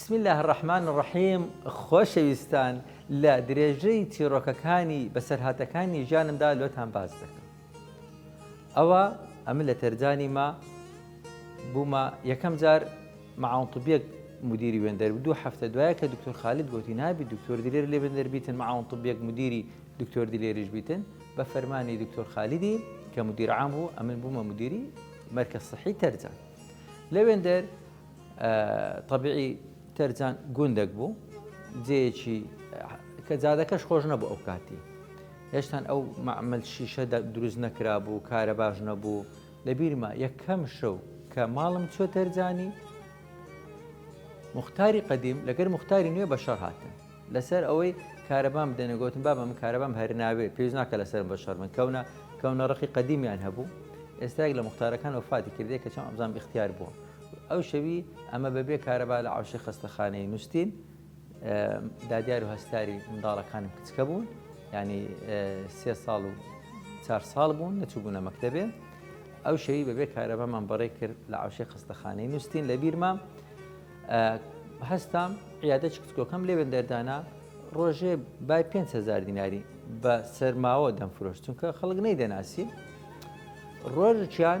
بسم اللە الرحمن الرحیم خۆشەویستان لە درێژەی چیڕۆکەکانی بەسەرهاتەکانی ژیانمدا لۆتان باس دەکەم ئەوە ئەمە لە تەرجانی ما بوومە یەکەم جار معاونطبیەک مدیری وێندەر دوو هەفتە دوایە کە دکتۆر خالد گوتی نابی دکتۆر دلێر لێ بندەر بیتن معاون طبیەک مدیری دکتۆر دلێریش بیتن بە فەرمانی دکتۆر خالیدی کە مدیر عام بوو ئەمن بوومە مدیری مەرکە صحی تەرجان لە وێندەر تەبیعی تەرجان گوندەک بوو جێیەکی کە جادەکەش خۆش نەبوو ئەو کاتی هێشتان ئەو معمل شیشە دروست نەکرا بوو کارە باش نەبوو لە بیرمە یەکەم شەو کە ماڵم چۆ تەرجانی مختاری قدیم لەگەر مختاری نوێ بە شەڕ هاتن لەسەر ئەوەی کارەبام بدەنە گوتم بابە من کارەبام هەرناوێ پێویست ناکە لەسەر بە شەر من کەونە کەونە ڕقی قدیمیان هەبوو ئێستاێک لە مختارەکان وفاتی کردێک کە چۆن ئەبزان اختیار بووە ئەو شەوی ئەمە بە بێ کارەبا لە عەوشەی خەستەخانەی نوستین، دادیار و هەستیاری منداڵەکانم کچکە بوون، یانی سێ ساڵ و چار ساڵ بوون نەچووبوونە مەکتەبێ. ئەو شەوی بەبێ کارەبامان بەڕێ کرد لە عەوشەی خەستەخانەی نوستین لە بیرمە هەستام عیادە کچکۆکەم لێ وێندەردانا ڕۆژێ بای 500 دیناری بە سەرماوە دەمفرۆشت چونکە خەڵک نەی دەناسی ڕۆژکیان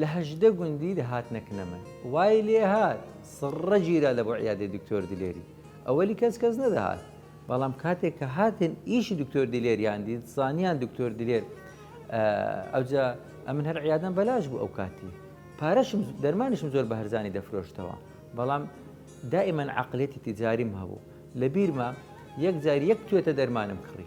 لە هەژدە گوندی دەهات نەکنەمن وای لێ هات سڕە گیرا لە بۆ عیادەی دکتۆر دلێری ئەوەلی کەس کەس نەدەهات بەڵام کاتێک کە هاتن ئیشی دکتۆر دلێریان دیت زانیان دکتۆر دلێر ئەوجا ئەمن هەر عیادەم بەلاش بوو ئەو کاتی پارەشم دەرمانیشم زۆر بە هەرزانی دەفرۆشتەوە بەڵام دائیمەن عقلێتی تجاریم هەبوو لە بیرمە یەک جاری یەک توێتە دەرمانم کڕی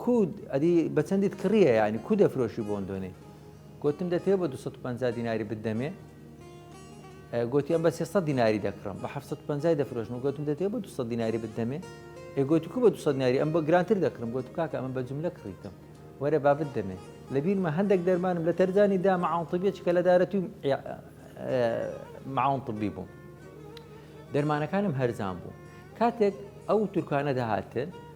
کو ئەدی بە چەندیت کڕییە یانی کو دەفرۆشی بۆندۆنی گوتم دەتەوێ بە 250 دیناری بدەمێ گوتی ئەم بە 300 دیناری دەکڕم بە 750 دەفرۆشم گوتم دەتەوێ بە 200 دیناری بدەمێ ئێگوتی کو بە 200 دیناری ئەم بە گرانتر دەکڕم گوت کاکە ئەمە بە جملە کڕیتم وەرە بابت دەمێ لە بیرمە هەندێک دەرمانم لە تەرجانی دا مەعاونتبیە چکە لە دارەتی مەعاونتبی بووم دەرمانەکانم هەرزان بوو کاتێک ئەو تورکانە دەهاتن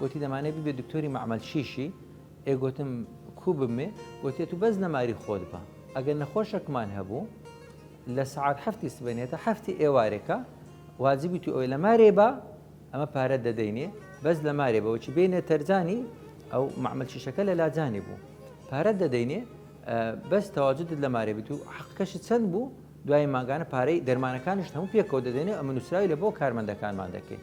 گۆتی دەمانەێ ببێ دکتۆری مەعمەل چیشی؟ ئێ گۆتم، کوو ببمێ؟ گۆتیە تو بەس نەماری خۆت بە. ئەگەر نەخۆشەکمان هەبوو، لە سەعات حەفتی سبەینێ تا حەفتی ئێوارێ کە واجبی تو ئەوێ لەمارێ بە، ئەمە پارەت دەدەینێ، بەس لەمارێ بە وەچی بێینە تەرجانی، ئەو مەعمەل چیشەکە لە لاجانی بوو، پارەت دەدەینێ، بەس تەواجودت لەمارێ بێ، تو حەقەکەشت چەند بوو، دوایی مانگانە پارەی دەرمانەکانیشت هەموو پێکەوە دەدەینێ، ئەمە نوسراوی لە بۆ کارمەندەکانمان دەکەین.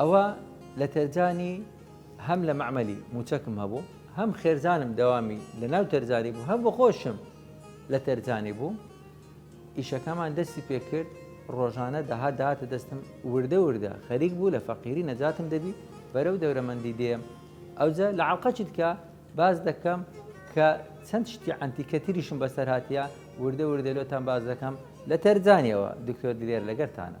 ئەوە لە تەرجانی هەم لە مەعمەلی موچەکم هەبوو هەم خێرزانم دەوامی لە ناو تەرجانی بوو هەم بە خۆشم لە تەرجانی بوو ئیشەکەمان دەستی پێکرد ڕۆژانە دەها داهاتە دەستم وردە وردە خەریک بوو لە فەقیری نەجاتم دەبی بەرەو دەورەمەندی دێم ئەوجە لە عڵقەچی دکە باز دەکەم کە چەند شتی ئەنتیکە تریشم بەسەر هااتە وردە وردە لۆتان باز دەکەم لە تەرجانیەوە دکتۆر دلێر لەگەرتانە